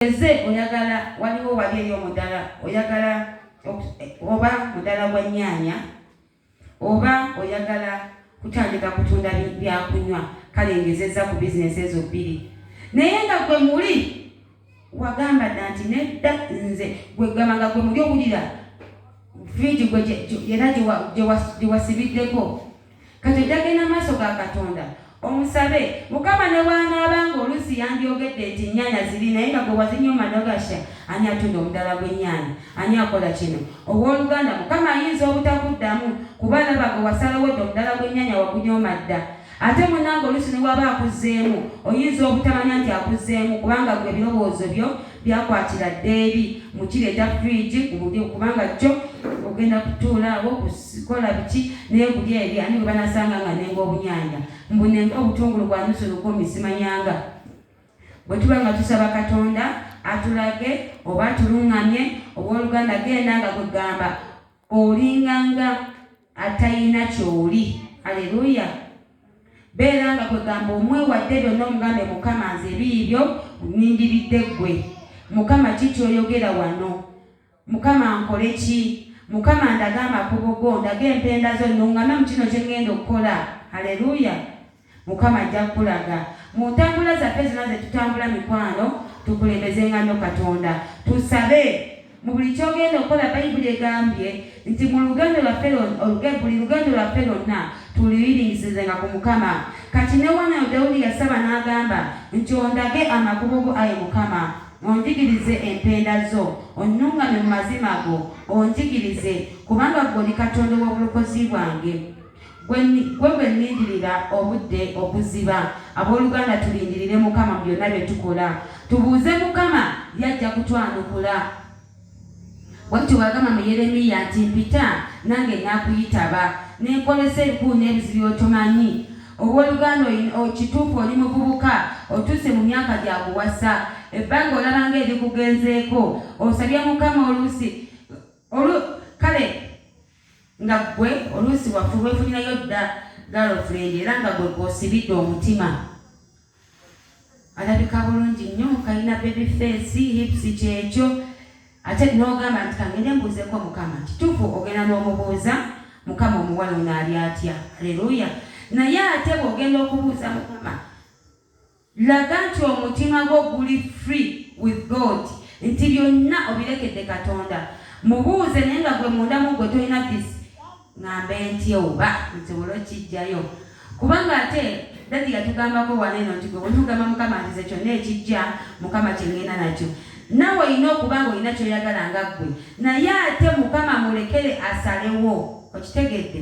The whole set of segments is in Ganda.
Eze oyagala waliwo wali eri omudala oyagala oba mudala gwa nyaanya oba oyagala kutandika kutunda byakunywa kale ngezeza ku bizinesi ezo bbiri naye nga gwe muli wagamba dda nti nedda nze gwegamba nga gwe muli owulira friji gwe era gyewasibiddeko Kati jagenda maaso ga Katonda omusabe mukama nebwanaaba nga olusi yandyogedde nti ennyanya ziri naye nga gwe wazinyooma nogasha ani atunda omudala gw'ennyanya ani akola kino ow'oluganda mukama ayinza obutakuddamu kuba alaba gwe wasalawo dda omudala gw'ennyanya wagunyooma dda ate munange olusi newaba akuzzeemu oyinza obutamanya nti akuzzeemu kubanga gwe ebirowoozo byo Byakwatira dda eri mu kireeta fridge ku budyo kubanga kyo ogenda kutuula awo kukola biki naye budyo eri ani gwe banasanga nga nenga obunyanya mbu nenga obutungulu bwa nusu lukumi simanyanga bwe tuba nga tusaba katonda atulage oba atulungamye owooluganda genda nga kwegamba olinganga atayina kyoli aleluya beera nga kwegamba omwewadde byonna omugambe mukama nze ebiibyo nindiridde ggwe mukama ki kyoyogera wano mukama nkole ki mukama ndaga amakubo go ndaga empenda zo nungame mu kino kyengenda okukola aleluya Mukama ajja kukulaga. Mu ntambula zaffe zonna ze tutambula mikwano, tukulembezenga nnyo Katonda. Tusabe. Mu buli ky'ogenda okukola Bayibuli egambye nti mu lugendo lwaffe lwonna, buli lugendo lwaffe lwonna tuluyiringisizenga ku Mukama. Kati ne wano awo Dawudi yasaba n'agamba nti, Ondage amakubo go, ayi Mukama, onjigirize empenda zo, onnungamye mu mazima go, onjigirize, kubanga ggwe oli Katonda ow'obulokozi bwange. Gwe gwe gwe nnindirira obudde okuziba Ab'oluganda tulindirire Mukama mu byonna bye tukola Tubuuze Mukama ye ajja kutwanukula Bw'atyo bw'agamba mu Yeremiya nti mpita nange nakuyitaba Ne nkolesa ebikulu n'ebizibu by'otomanyi Ow'oluganda oyi o kituufu oli muvubuka Otuuse mu myaka gya kuwasa Ebbanga olaba nga erikugenzeeko Osabye Mukama oluusi olu kale Nga ggwe oluusi waffe weefunirayo dda girlfriend era nga gwe gw'osibidde omutima. Alabika bulungi nnyo, kalina baby face, hips kyekyo ate n'ogamba nti kangende mbuuzeko Mukama. Kituufu ogenda n'omubuuza Mukama omuwala ono ali atya. Haleluya! Naye ate bw'ogenda okubuuza Mukama, Laga nti omutima gwo guli free with God nti byonna obirekedde Katonda. Mubuuze naye nga gwe munda mu gwe tolina this ngambe ntya oba nsobole okijjayo kubanga ate dadi yatugambako wano eno nti gwe bwetugamba mukama ntize kyonna ekijja mukama kyengenda nakyo nawe olina okuba nga olina kyoyagala nga ggwe naye ate mukama mulekere asalewo okitegedde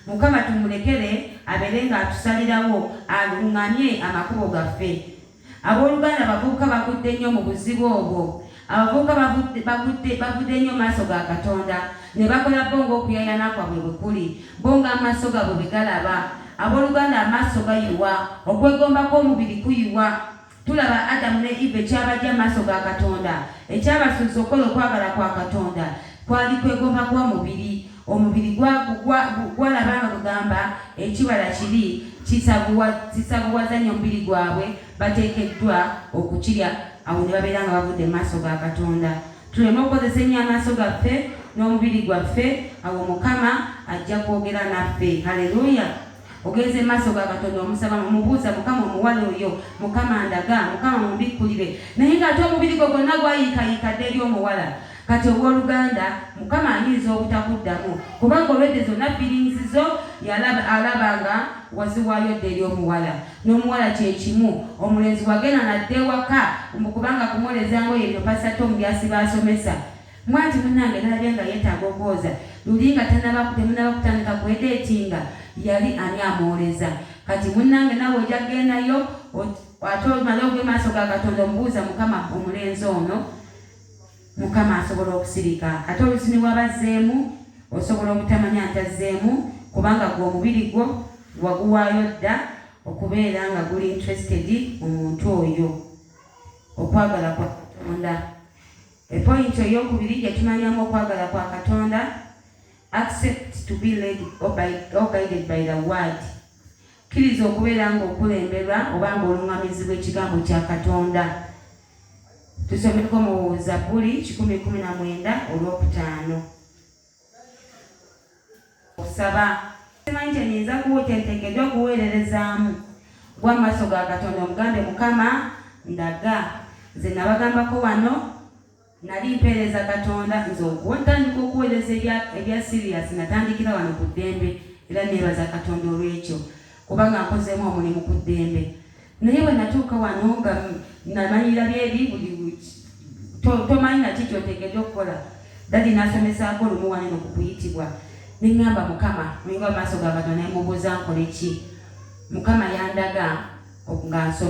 Mukama tumulekere abeere ng'atusalirawo alung'amye amakubo gaffe. Abooluganda abavubuka bagudde nnyo mu buzibu obwo. Abavubuka bagudde nnyo maaso ga Katonda ne bakola bo ng'okuyayana kwabwe bwe kuli, bo ng'amaso gabwe bwe galaba. Abooluganda amaaso gayiwa, okwegomba kw'omubiri kuyiwa, Tulaba Adamu ne Eva ekyabajja mu maaso ga Katonda, ekyabasuubiza okukola okwagala kwa Katonda, kwali kwegomba kwa mubiri. Omubiri gwalaba nga gugamba ekibala kibi, kisavuwaza nnyo omubiri gwabwe, bateekeddwa okukirya, awo ne babeera nga bavudde mu maaso ga Katonda. Tuleme okukozesa ennyo amaaso gaffe n'omubiri gwaffe, awo Mukama ajja kwogera naffe. Haleluya! ogenze maaso ga katonda omusaba mumubuuza mukama omuwala oyo mukama ndaga mukama mumbikkulire naye ngaate omubiri gwe gwonna gwayiikayiika dda eri omuwala kati owoluganda mukama ayinza obutakuddamu kubanga olwedde zonna feelings zo alaba nga waziwayo dda eri omuwala n'omuwala kyekimu omulenzi wagenda nadda ewaka mbu kubanga kumwoleza ngoye byo pasatomu byasiba asomesa Mwati munange nalabye nga yetaaga okwoza luli nga tanaba temunaba kutandika kwedetinga yali ani amwoleza kati munange nawe oja gendayo ate omale ogwe maaso ga katonda omubuuza mukama omulenzi ono mukama asobola okusirika ate olusi niwabazzeemu osobola obutamanya nti azzeemu kubanga gwe omubiri gwo waguwaayo dda okubeera nga guli interested mu muntu oyo okwagala kwa katonda Epointi ey'okubiri gye tumanyamu okwagala kwa Katonda, accept to be led or guided by the word. Kkiriza okubeera ng'okulemberwa oba ng'oluŋŋamizibwa ekigambo kya Katonda. Tusomeko mu Zabbuli kikumi kumi na mwenda olw'okutaano. Okusaba simanyi kye nyinza kuwa kyenteekeddwa okuweererezaamu gwa maaso ga Katonda omugambe Mukama ndaga nze nabagambako wano nali mpeereza Katonda nze okuwatandika okuweereza ebya siriyasi natandikira wano ku ddembe era neebaza Katonda olw'ekyo kubanga nkozeemu omulimu ku ddembe naye bwe natuuka wano nga namalira byeri buli tomanyi naki kyotegede okukola dadi nasomesaako olumu waneno ku kuyitibwa neŋŋamba mukama ninga maaso gabadwa nemubuuza nkole ki mukama yandaga nga nsoma